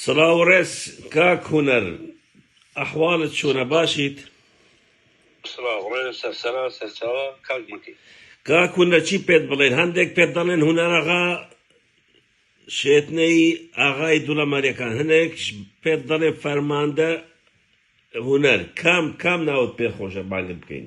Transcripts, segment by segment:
سڵاو و ڕێز کاک هونەر ئەحواڵت چۆنە باشیت؟ سڵاو ڕێز سەرسەرا سەرچاوە کاک مەکی. کاک هونەر چی پێت بڵێن هەندێک پێت دەڵێن هونەر ئاغا شێتنەی ئاغای دوڵەمەرەکان هەندێک پێت دەڵێ فەرماندە هونەر کام کام ناوت پێ خۆشە بانگت بکەین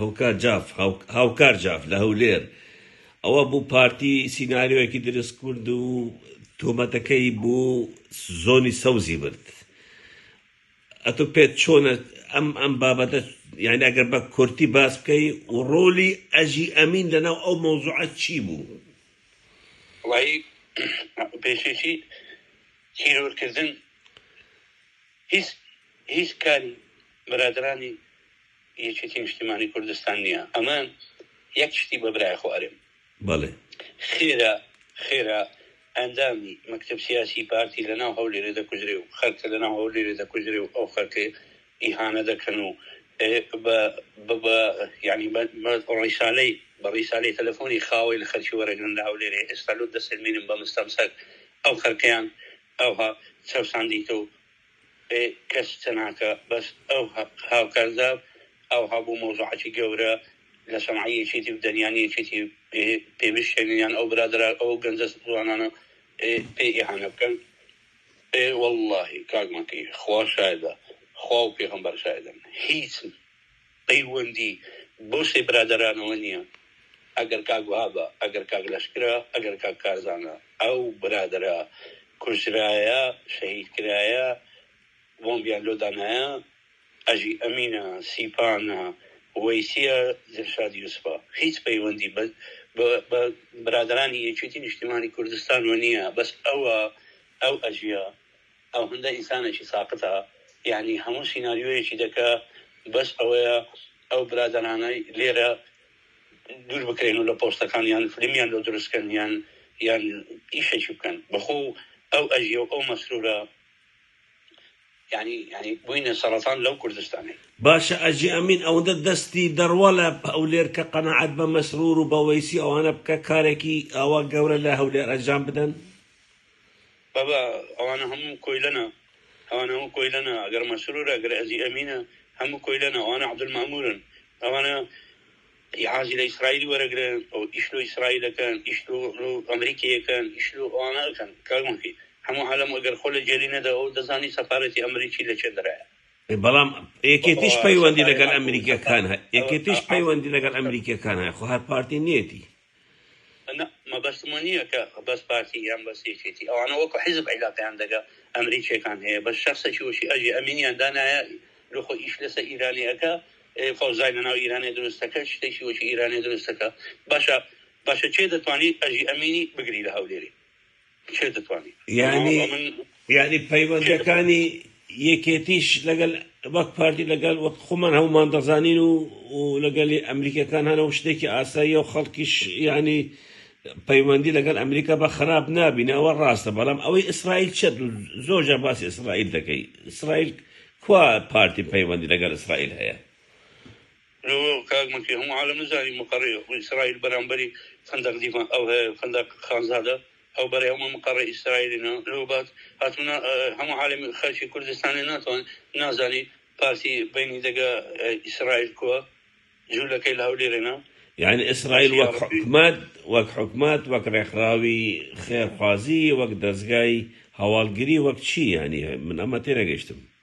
هوکار جاف، هاوکار جاف لە هەولێر، ئەوە بوو پارتی سیناریۆیەکی دروستکرد و تۆمەتەکەی بۆ زۆنی سەوزی برد. ئەتۆ پێت چۆنە ئەم ئەم بابەتە یعنی ئەگەر بە کورتی باس بکەی و ڕۆلی ئەژی ئەمین لەناو ئەو مەوزوعە چی بوو؟ وای پێشێکی تیرۆرکردن هیچ هیچ کاری برادرانی یەکێتی نیشتیمانی کوردستان نیە ئەمە یەک شتی بە برای خۆ ئەرێم بەڵێ خێرا خێرا ئەندامی مەکتب سیاسی پارتی لە ناو هەولێرێ دەکوژرێ و خەرکە لە ناو هەولێرێ دەکوژرێ و ئەو خەرکەی ئیهانە دەکەن و ینی ڕیسالەی بە ڕیسالی تەلەفۆنی خاوەی لە خەرکی وەرەگرن لە هەولێرێ ئێستا لۆ دەسێنمینم بە مستەمسەر ئەو خەرکەیان ئەوها چەساندیتە و ئێ کەس قسە ناکا بەس ئەو هاوکارزاو ئاوها بۆ مەوزوعاتی گەورە لە سەنعای یەکێتی بدەن یان یەکێتی پێ بشکێنن یان ئەو برادەرە ئەو گەنجە جوانانە پێ ئیهانە بکەن ئێ وەڵڵاهی کاک مەکی خوا شایدە خوا و پێغەمبەر شایدن هیچ پەیوەندی بەو سێ برادەرانەوە نیە ئەگەر کاک وەهابە ئەگەر کاک لەشکرە ئەگەر کاک کارزانە ئەو برادەرە کوژرایە شەهید کرایە بۆمبیان لۆ دانایە ئەژی ئەمینە سیپانە وەیسیە دلشاد یوسفە هیچ پەیوەندی بە بە برادەرانی یەکێتی نیشتیمانی کوردستانەوە نیە بەس ئەوە ئەو ئەژیە ئەوهندە ئینسانێکی ساقتە یەعنی هەموو سیناریۆیەکی دەکا بەس ئەوەیە ئەو برادەرانەی لێرە دوور بکرێن و لە پۆستەکان یان فلمیان لۆ دروست کەن یان یان ئیشێکی بکەن بەخۆ ئەو ئەژیە و ئەو مەسرورە یەعنی یەعنی بووینە سەڕەتان لەو کوردستانەی. باشە ئەژی ئەمین ئەوەندە دەستی دەڕوا لە هەولێر کە قەناعەت بە مەسرور و بە وەیسی ئەوانە بکە کارێکی ئاوا گەورە لە هەولێر ئەجام بدەن؟ بابە ئەوانە هەموو کۆیلەنە ئەوانە هەموو کۆیلەنە ئەگەر مەسرورە گەر ئەزی ئەمینە هەموو کۆیلەنە ئەوانە عبدول مامورن ئەوانە عازی لە ئیسرائیلی وەرەگرن ئەو ئیش لۆ ئیسرائیلەکەن ئیش لۆ ئەمریکیەکەن ئیش لۆ ئەوانە ئەکەن کاک مەکی هەموو عالەم ئەگەر خۆ لە جێلی نەدا ئەو دەزانی سەفارەتی ئەمریکی لە چێ دەرایە بەڵام یەکێتیش بابا پەیوەندی سەفارەت لەگەل ئەمریکیەکان هە ئەوە یەکێتیش ئەحە پەیوەندی لەگەل ئەمریکیەکان هەیە خۆ هەر پارتی نیەتی. نا مەبەستم وە نیە کە بەس پارتی یان بەس یەکێتی ئەوانە وەکو حیزب عیلاقەیان دەگە ئەمریکیەکان هەیە بەس شەخسەکی وەکی ئەژی ئەمینیان دانایە لۆ خۆ ئیش لەسە ئیرانی ئەکا فەوزای لەناو ئیرانێ دروست دەکە شتێکی وەکی ئیرانێ دروست دەکە باشە باشە کێ دەتوانی ئەژی ئەمینی بگری لە هەولێری کێ دەتوانێت یانی یانی پەیوەندەکانی یەکێتیش لەگەل وەک پارتی لەگەل وەک خۆمان هەمومان دەزانین و لەگەلی ئەمریکەکان هەنە و شتێکی ئاسایی و خەڵکیش ینی پەیوەندی لەگەل ئەمریکا بە خراپ نابینەوە ڕاستە بەڵام ئەوەی ئیسرائیل چێت زۆرجە باسی ئیسرائیل دەکەی ئیسرائیل کوا پارتی پەیوەندی لەگەل ئیسرائیل هەیە برۆ کاک مکی هەموو عالەم نزانی مقەڕی ئیسرائیل بەرامبەری فندق دیما ئەو هەیە فندق خانزادە ئەو بەرەی هەموو مقەڕی ئیسرائیلینە لۆ بات هاتوونە هەموو عالەم خەلکی کوردستانی ناتوان نازانی پارتی بینی دەگا ئیسرائیل کوە جولەکەی لە هەولێرێنە یانی ئیسرائیل وەک حکومەت وەک حکومەت وەک ڕێکخراوی خێرخوازی وەک دەزگای هەواڵگری وەک چی یانی من ئەمە تێنەگەشتم.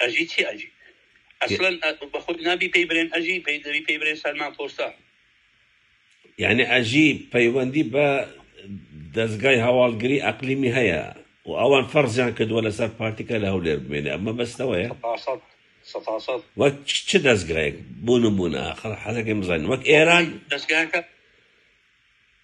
ئەژی چی ئەژی ئەسلەن بەخۆت نابی پێی برێن ئەژی پێی دەبی پێی برێن سەلمان پۆستە یعنی ئەژی پەیوەندی بە دەستگای هەواڵگری ئەقلیمی هەیە و ئەوان فەرزیان کردووە لەسەر پارتیکە لە هەولێر بمێنێ ئەمە بەستەوەیە وەک چ دەستگایەک بوون و بوونە خەڵ حەزەکەی بزانین وەک ئێران دەستگاکە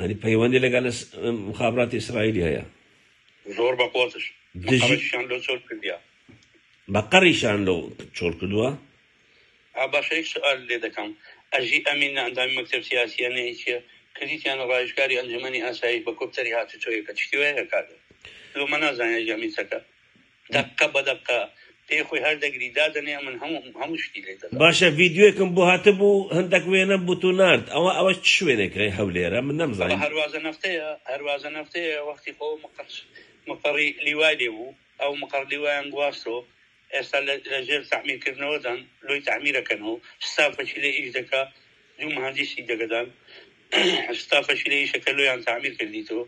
یانی پەیوەندی لەگەل مخابراتی ئیسرائیلی هەیە. زۆر بە قۆزش دژیشان لۆ چۆل کردیا بە قەڕیشان لۆ چۆل کردووە. باشەیەک سوال لێ دەکەم ئەژی ئەمین نە ئەندامی مەکتەب سیاسیە نە هیچیە کردیتیانە ڕاویژکاری ئەنجومەنی ئاسایش بە کۆپتەری هاتوچۆیەکە چشتی وەیە کادر لۆ مە نازانیە ئەژی ئەمین چەکە دەقە بە دەقە پێی خۆی هەر دەگری دادەنێ ئەمن هەموو هەموو شتی لێ دەدا. باشە ڤیدیۆیکم بۆ هاتبوو هەندەک وێنەم بوتو نارد ئەوە ئەوە چ شوێنێک هەی هەولێرە من نەمزانی. بابە هەروازە نەفتەیە هەروازە نەفتەیە وەختی خۆ مقەر مقەڕی لیوای لێ بوو ئەو مقەڕ لیوایان گواستۆ ئێستا لە لەژێر تەعمیرکردنەوەدان لۆی تەعمیرەکەنۆ ستا پەکی لێ ئیش دەکا دوو مهندیسی دەگەدان ستا فەشیلە ئیشە کە لۆیان تەعمیر کردیتۆ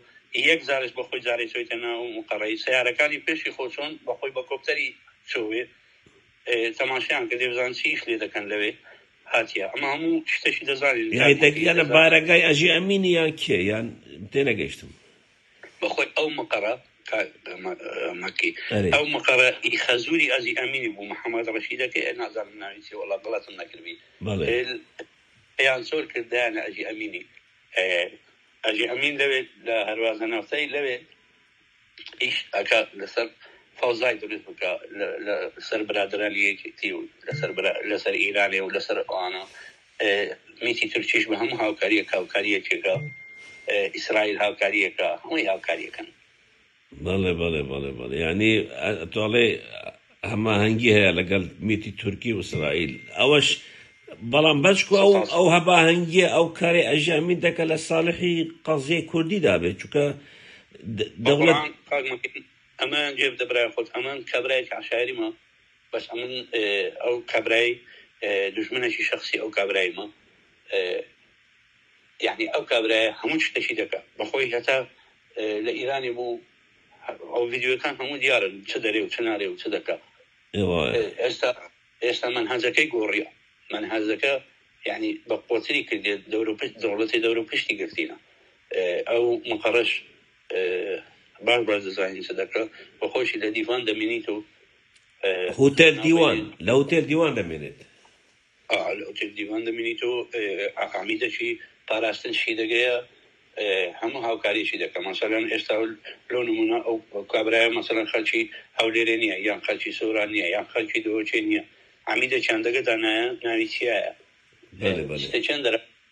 یەک جارش بە خۆی جارێ چۆیتە ناو مقەڕەی سەیارەکانی پێشی خۆ چۆن بە خۆی بە کۆپتەری چۆێ تەماشیان کردێ بزان چی ئیش لێ دەکەن لەوێ هاتیە ئەمە هەموو شتەکی دەزانین یانی دەگیانە بارەگای ئەژی ئەمینی یان کێ یان تێنەگەیشتم. بەخۆی ئەو مقەڕە کا مە مەکی ئەرێ ئەو مقەڕە ی خەزووری ئەزی ئەمینی بوو محەمەد ڕەشیدەکەی ئەی نازانم ناوی چیە وەڵا غەڵەتم نەکردبی بەڵێ ئێل ئەیان چۆل کردیانە ئەژی ئەمینی ئێ ئەژی ئەمین لەوێ لە هەروازە نەوتەی لەوێ ئیش ئەکا لەسەر فەوزای دروست بکە لە لە سەر برادەرانی یەکێتی و لەسەر برا لەسەر ئیرانێ و لەسەر ئەوانە میتی تورکیش بە هەموو هاوکاریەک هاوکاریەکێکە ئیسرائیل هاوکاریەکە هەمووی هاوکاریەکەن. بەڵێ بەڵێ بەڵێ بەڵێ یانی تۆڵێ هەماهەنگی هەیە لەگەڵ میتی تورکی و ئیسرائیل ئەوەش بەڵام بەچکو ئەو ئەو هەباهەنگیە ئەو کارێ ئەژامی دەکە لە ساڵحی قەزیە کوردی دابێت چکە دەوڵەت ئەمە جێب دەبرای خۆت ئەمان کابراایکی عشاعری ما بەس ئەمن ئەو کابرای دوژمنەکی شەخسی ئەو کابرایمە یەعنی ئەو کابرایە هەموو شتەکی دەکە بەخۆی هەتا لە ئیرانی بوو ئەو ڤیددیوەکان هەموو دیارن چ دەرێ و چ نارێ و چ دەکە ئێستا ئێستا من هەزەکەی گۆڕیە من هەزەکە یعنی بە قۆتری کردێت دەورو پشت دەوڵەتی دەورو پشتی گرتینە ئەو مقڕش باش باش دەزانین چ دەکە بە خۆشی لە دیڤان دەمینیت و هوتێل دیوان لە هوتێل دیوان دەمێنێت. ئا لە هوتێل دیوان دەمێنیت و ئاقامی دەچی پاراستن شی دەگەیە هەموو هاوکاریشی دەکە مەسەلەن ئێستا لۆ نمونە ئەو کابرایە مەسەلەن خەلکی هەولێرێ نییە یان خەلکی سۆران نییە یان خەلکی دۆچێ نییە عمیدە چندەگە دانایە ناوی چیایە چند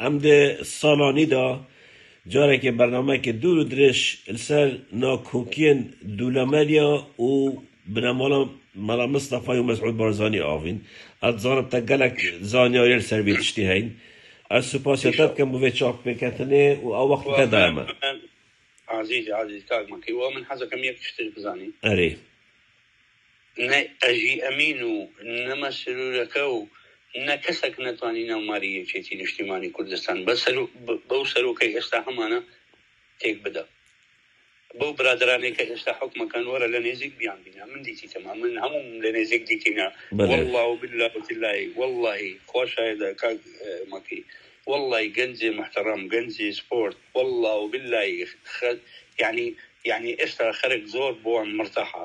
ئەم دە ساڵانیدا جارێکێ بەرنامەێکێ دوور و درێژ لەسەر ناکۆکیێن دوولەمەریا و بنەماڵە مەلا مستەفای و مەسعود بارزانی ئاڤین. ئەت زانم تە گەلەک زانیاریێ لەسەر وێ تشتی هەین. ئەت سوپاسێ تە بکەم بۆ وێ چاکپێکەتنێ و ئەو وەخت تە دایمە. ئازیز ئازیز کاک مەکی وە من حەزەکەم یەک شتش بزانی. ئەرێ. نە ئەژی ئەمین و نە مەسرورەکە و نە کەسەک نەتوانی ناو ماری یەکێتی نیشتیمانی کوردستان بە سەرو بەو سەرۆکەی ئێستا هەمانە تێک بدا بەو برادەرانەی کە ئێستا حوکمەکەن وەرە لە نێزیک بیان بینە من دیتیتم ئەمن هەموو لە نێزیک دیتینە واللە و باللە و تلایی واللهی خوا شایدە کاک مەکی واللهی گەنجێ محتەڕەم گەنجێ سپۆرت واللە و باللهی خەت یعنی یعنی ئێستا خەرک زۆر بۆن مرتاحە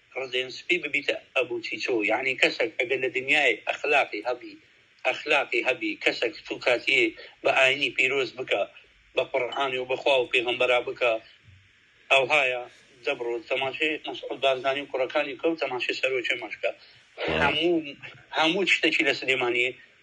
ڕزێن سپی ببیتە ئەبو چیچۆ یەعنی کەسەک ئەگەر لە دنیایەک ئەخلاقی هەبی ئەخلاقی هەبی کەسەک تو کاتیێ بە ئاینی پیرۆز بکە بە قوڕعان و بە خوا و پێغەمبەرا بکە ئەوهایە دە بڕۆ تەماشێ مەسعود بارزانی و کوڕەکانی بکە و تەماشێ سەرۆکێ مەشکە هەموو هەموو چشتەکی لە سلێمانیێ